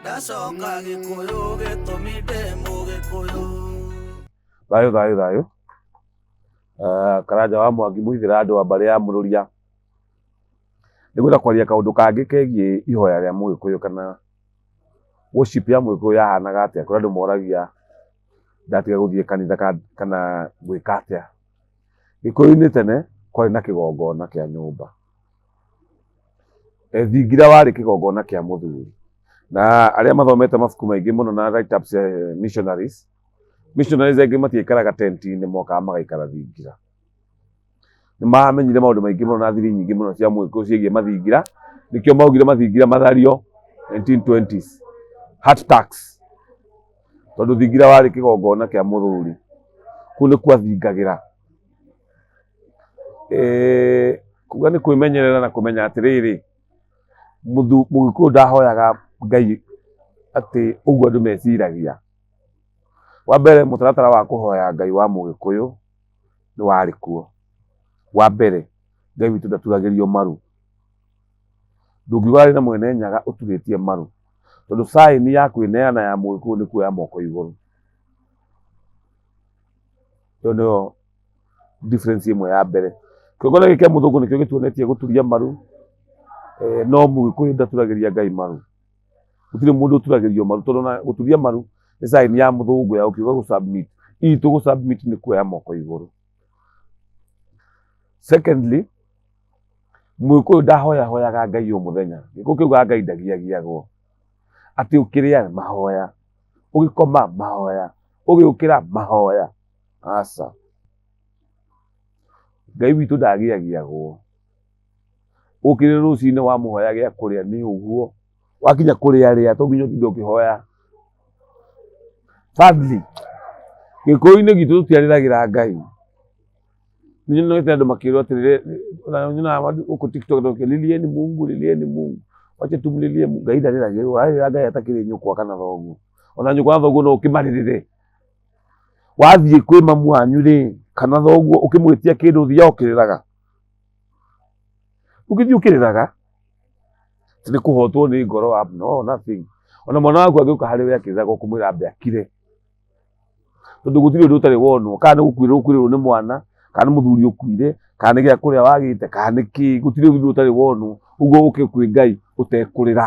ndacoka gĩkũyũ gĩtũmi ndĩ mũgĩkũyũ thayũ thayũ thayũ uh, karanja wa mwangi mũhithĩra andũ a mbarĩ ya mũrũria nĩ gwĩta kwaria kaũndũ kangĩ kegiĩ ihoya rĩa mũgĩkũyũ kana worship ya mũgĩkũyũ yahanaga atĩa kũrĩ andũ moragia ndatiga gũthiĩ kanitha ka- kana gwĩka atĩa gĩkũyũ-inĩ tene kwarĩ na kĩgongona kĩa nyũmba Eh, thingira warĩ kĩgongona kĩa mũthuri na arĩa mathomete mabuku maingĩ mũno na write ups cia eh, missionaries missionaries aingĩ matiaikaraga tenti-inĩ mokaga magaikara thingira nĩ mamenyire maũndũ maingĩ mũno na thiri nyingĩ mũno cia mwĩkũ ciĩgiĩ mathingira nĩkĩo maugire mathingira mathario 1920s heart tax tondũ thingira warĩ kĩgongona kĩa mũthuri kũu nĩkuo athingagĩra Eh, kuga nĩ kwĩmenyerera na kũmenya atĩrĩrĩ, mũthu- mũgĩkũyũ ndahoyaga Ngai atĩ ũguo andũ meciragia. Wa mbere mũtaratara wa kũhoya Ngai wa mũgĩkũyũ nĩ warĩ kuo. Wa mbere, Ngai witũ ndaturagĩrio maru. Ndũngiuga arĩ na mwene Nyaga ũturĩtie maru, tondũ sign ya kwĩneana ya mũgĩkũyũ nĩ kuoya moko igũrũ. Ĩyo nĩyo... difference ĩmwe ya mbere kĩũngano gĩkĩ kĩa mũthũngũ nĩkĩo gĩtuonetie gũturia maru eh, no mũgĩkũyũ ndaturagĩria ngai maru gũtirĩ mũndũ ũturagĩrio maru tondũ na gũturia maru nĩ sign ya mũthũngũ ya ũkiuga gũ submit itũ gũ submit nĩ kuoya moko igũrũ secondly mũgĩkũyũ ndahoya hoyaga ngai o mũthenya gĩkũ kĩugaga ngai ndagiagiagwo atĩ ũkĩrĩa mahoya ũgĩkoma mahoya ũgĩũkĩra mahoya aca. Ngai witũ ndagĩagiagwo. Ũkĩrĩ rũcinĩ wamũhoya gĩa kũrĩa nĩ ũguo, wakinya kũrĩa rĩa to nginya ũtinde ũkĩhoya. Thirdly, gĩkũyũ-inĩ gitũ tũtiarĩragĩra Ngai. Nĩ nyonete andũ makĩrwo atĩrĩrĩ, ona nyonaga gũkũ TikTok andũ makĩũria lilieni Mungu, lilieni Mungu, wacha tumlilie Mungu. Ngai ndarĩragĩrwo, warĩrĩra Ngai atakĩrĩ nyũkwa kana thoguo. Ona nyũkwa na thoguo no ũkĩmarĩrĩre. wathiĩ kwĩ mamu wanyu rĩ kana thoguo ũkĩmwĩtia kĩndũ ũthiaga ũkĩrĩraga ũgĩthiĩ ũkĩrĩraga atĩ nĩ kũhotwo nĩ ngoro wa no nothing ona mwana waku angĩũka harĩ we akĩrĩraga ũkũmwĩra ambe akire tondũ gũtirĩ ũndũ ũtarĩ wonwo kana nĩ gũkuĩrwo ũkuĩrĩrwo nĩ mwana kana nĩ mũthuri ũkuire kana nĩ gĩa kũrĩa wagĩte kana nĩ kĩ gũtirĩ ũndũ ũtarĩ wonwo ũguo ũke kwĩ ngai ũtekũrĩra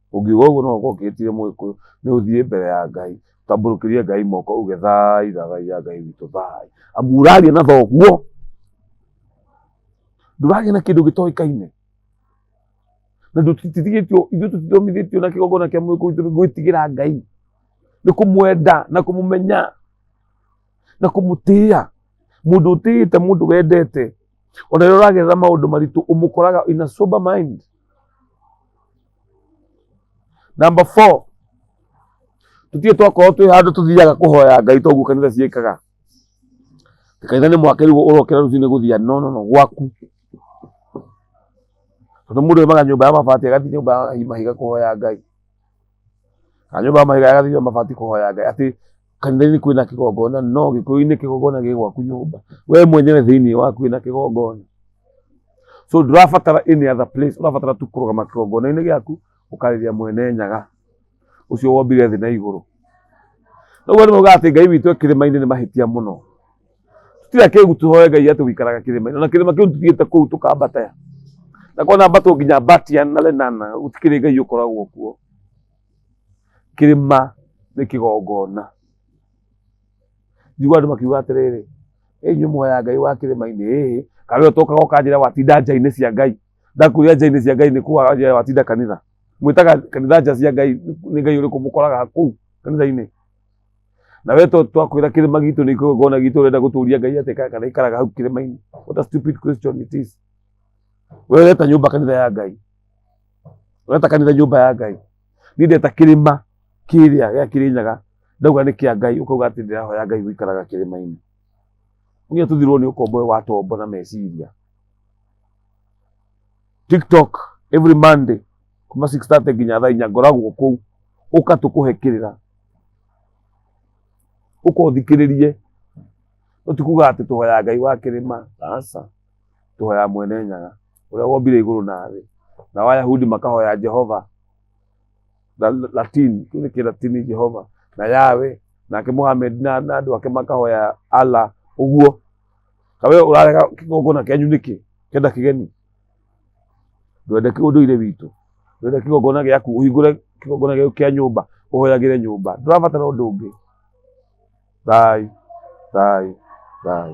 Ũngiuga ũguo no gũkorwo ũkĩhĩtĩirie Mũgĩkũyũ. Nĩ ũthiĩ mbere ya Ngai, ũtambũrũkĩrie Ngai moko uge thai thai ya Ngai witũ thai. Amu ũraria na thoguo. Ndũraria na kĩndũ gĩtoĩkaine. Na tũtitigĩtio, ithuĩ tũtithomithĩtio na kĩgongona kĩa Mũgĩkũyũ gitũ nĩ gwĩtigĩra Ngai. Nĩ kũmwenda na kũmũmenya na kũmũtĩa. Mũndũ ũtĩĩte mũndũ wendete, ona rĩrĩa ũragerera maũndũ maritũ ũmũkoraga in a sober mind. Number four, tutige twakorwo twĩ handũ tũthiaga kũhoya Ngai toguo kanitha ciĩkaga. Ti Kanitha nĩ mwake rĩu ũrokĩra rũcinĩ gũthia no no no gwaku. Tondũ mũndũ oimaga nyũmba ya mabati agathiĩ nyũmba ya mahiga kũhoya Ngai. Kana nyũmba ya mahiga agathiĩ nyũmba ya mabati kũhoya Ngai atĩ kanitha-inĩ kwĩna kĩgongona no gĩkũyũ-inĩ kĩgongona gĩ gwaku nyũmba we mwenyewe thĩinĩ waku wĩna kĩgongona so ndũrabatara any other place ũrabatara tu kũrũgama kĩgongona-inĩ gĩaku ũkarĩria mwene nyaga ũcio wombire thĩ na igũrũ ũguo nĩ maugaga atĩ ngai witũ e kĩrĩma-inĩ nĩ mahĩtia mũno tira kĩgu tũhoe ngai atĩ wĩikaraga kĩrĩma-inĩ ona kĩrĩma kĩu tũthiĩte kũu tũkambata na kona mbatũ nginya mbatia na lenana gũtikĩrĩ ngai ũkoragwo kuo kĩrĩma nĩ kĩgongona njigua andũ makiuga atĩrĩrĩ "Ĩ inyuĩ muoya ngai wa kĩrĩma-inĩ ĩĩ kana ũtokaga ũkanjĩra watinda nja-inĩ cia ngai ndakwĩria nja-inĩ cia ngai nĩ kuga watinda kanitha mwĩtaga kanitha nja cia ngai nĩ ngai ũrĩkũ mũkoraga kũu kanitha-inĩ na we to- twakwĩra kĩrĩma gitũ nĩ kĩgongona gitũ ũrenda gũtũria ngai atĩ ka- kana ikaraga hau kĩrĩma-inĩ what a stupid question it is we ũreta nyũmba kanitha ya ngai Ureta kanitha nyũmba ya Ngai. Niĩ ndeta kĩrĩma kĩrĩa gĩa Kĩrĩnyaga, ndauga nĩ kĩa Ngai, ũkauga atĩ ndĩrahoya Ngai gũikaraga kĩrĩma-inĩ. Niĩ tũthirwo nĩ ũkombo ũyũ wa tombo na meciria. TikTok every Monday kuma 6:30 nginya thaa inya ngoragwo kũu, ũka tũkũhe kĩrĩra, ũka ũthikĩrĩrie, no ti kuga atĩ tũhoya Ngai wa kĩrĩma, aca, tũhoya Mwene Nyaga. ũrĩa wombire igũrũ na thĩ nao ayahudi makahoya jehova na na- latin kĩu nĩ kĩlatini jehova na yawe nake mohamed na na andũ ake makahoya allah ũguo kawe ũrarega kĩgongona kĩanyu nĩkĩ kenda kĩgeni ndwende kĩ- ũndũire witũ ndwende kĩgongona gĩaku ũhingũre kĩgongona gĩaku kĩa nyũmba ũhoyagĩre nyũmba ndũrabatara ũndũ ũngĩ thai thai thai